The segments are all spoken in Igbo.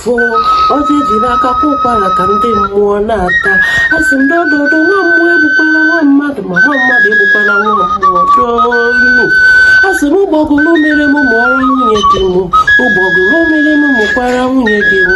fụọ ọjị eji n'aka kwa ụkwara ka ndị mmụọ na-ata asị m dododo nwa mmụọ egbukwala nwa mmadụ ma nwa mmadụ egbukwala nwa mmụọ donu asị m ụgbọgụrụ mịara m mịara nwunye di m ụgbọgụrụ mịara m mịkwara nwunye di m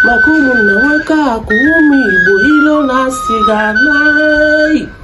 maka ụmụnna nwekọọ akụ ọnụ ibu ilo na asị ga-ana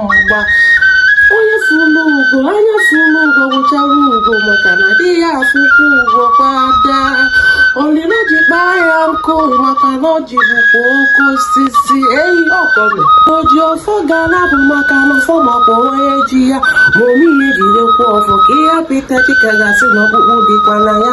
mgba onye fụlụ ugo anya fụlụ ugo gwụchara ugo maka na adịghị afụkwa ugo kwa daa ọ lịlị ọjị kpaa ya nkụ maka na ọjị bụkwa oke osisi eyi ọkọme o ji ọfọ ga-ala bụ maka na ọfọ makwa onye ji ya ma ome ihe jidekwa ọfọ ka ihe apịta chika gasị na ọkpụkpụ dịkwa na ya